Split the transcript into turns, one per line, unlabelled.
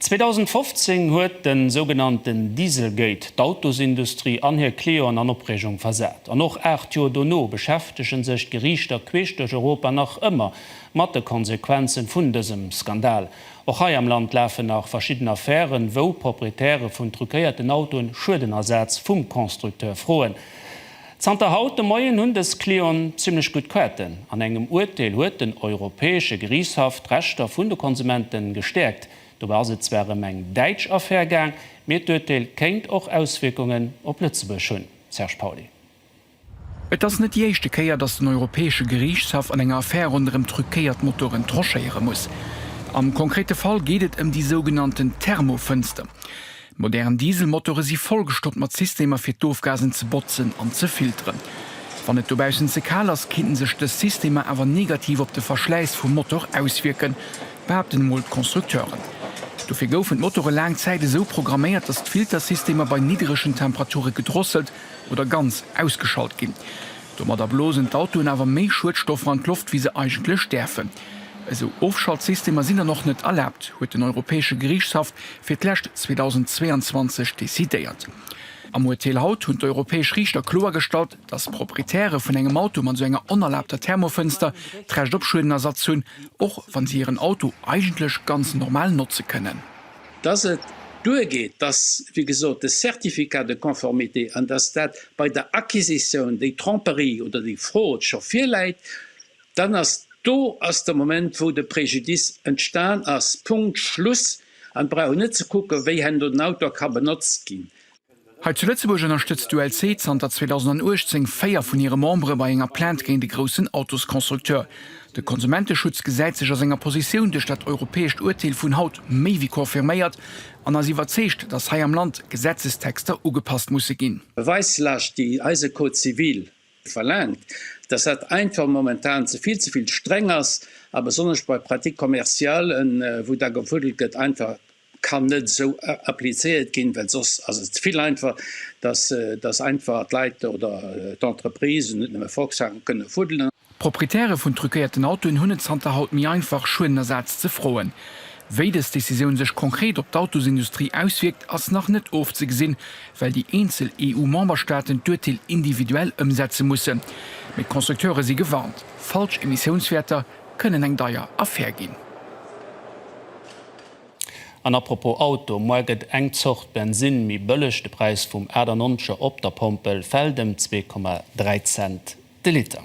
2015 huet de sougenannten Dieselgate d'Autosindustrie an hir Clienten an Opreegung versat. An och 8 Joer dono beschäftegen sech d'Geriichter queesch duerch Europa nach ëmmer mat de Konsequenzen vun dësem Skandal. Och hei am Land lafen nach verschidden Affären, wou Proprietäre vun truquéierten Autoen Schuedenersaz vum Constructeur froen. Zanter haut de Moien hunn dës Clienten zimmlech gutt Quêten. An engem Urteel huet den Europäesche Geriichtshaff d'Rechter vun de Konsumente gestäerkt. Dobäi ass et zwar ëm eng däitsch Affär gaang, mee d'Urteel kéint och Auswierkungen op Lëtzebuerg hunn, Serge Pauly. Et
ass net déi éischte Kéier, datt den Europäesche Geriichtshaff an enger Affär ronderëm truquéiert Motoren tranchéiere muss. Am konkrete Fall geet et ëm déi sougenannten Thermofënster. Modern Dieselmotore si vollgestoppt mat Systemer fir d'Ofgasen ze botzen an ze filteren. Wann et dobaussen ze kal ass, kinnten sech dës Systemer awer negativ op de Verschläiss vum Motor auswierken, behaapten emol d'Constructeuren. Dofir goufen d'Motore laang Zäit esou programméiert, datt d'Filtersystemer bei nidderegen Temperature gedrosselt oder ganz ausgeschalt ginn. Domadder blosen d'Autoen awer méi Schuedstoffer an d'Loft wéi se eigentlech däerfen. Esou Ofschaltsystemer sinn dann och net erlaabt, huet den Europäesche Geriichtshaff fir d'lescht 2022 decidéiert. Am Urteel haut hunn d'europäesch Riichter kloergestallt, datt d'Proprietäre vun engem Auto mat esou enger onerlaabter Thermofënster d'Recht op Schuedenersatz hunn, och wa si hiren Auto eigentlech ganz normal notze kënnen. Datt et
duergeet, datt, wéi gesot, de Certificat de conformité an datt dat bei der Acquisitioun, déi Tromperie oder déi Fraude scho virläit, Dann ass do ass de Moment, wou de Préjudice entstan ass. Punkt, Schluss. An brauch een net ze kucken, wéi hen do den Auto ka benotzt ginn. Hei zu Lëtzebuerg
ënnerstëtzt d'ULC zanter 2018 véier vun hire Membere bei enger Plainte géint e groussen Autosconstructeur. De Konsumenteschutz gesäit sech a senger Positioun duerch dat europäescht Urteel vun haut méi wéi confirméiert an ass iwwerzeegt, datt hei am Land Gesetzestexter ugepasst musse ginn. Beweislast, déi
eise Code civil verlaangt, dass dat einfach momentan ze vill, ze vill streng ass a besonnesch bei Pratiques commerciales, wou da gefuddelt gëtt, einfach kann net esou applizéiert ginn, well soss ass et ze vill einfach, dass, dass einfach d'Leit oder d'Entreprisen, net nëmme Volkswagen, kënne fuddelen. D'Proprietäre vun
truquéierten Autoen hunn et zanter haut méi einfach, Schuedenersaz ze froen. Wéi dës Decisioun sech konkret op d'Autosindustrie auswierkt, ass nach net ofzegesinn, well déi eenzel EU-Memberstaaten d'Urteel individuell ëmsetze mussen. Mee d'Constructeure si gewarnt, falsch Emissiounswäerter kënnen eng deier Affär ginn.
An apropos Auto, Muar gëtt eng Zort Bensinn méi bëlleg, de Präis vum 98er op der Pompel fält ëm 2,3 Cent de Liter.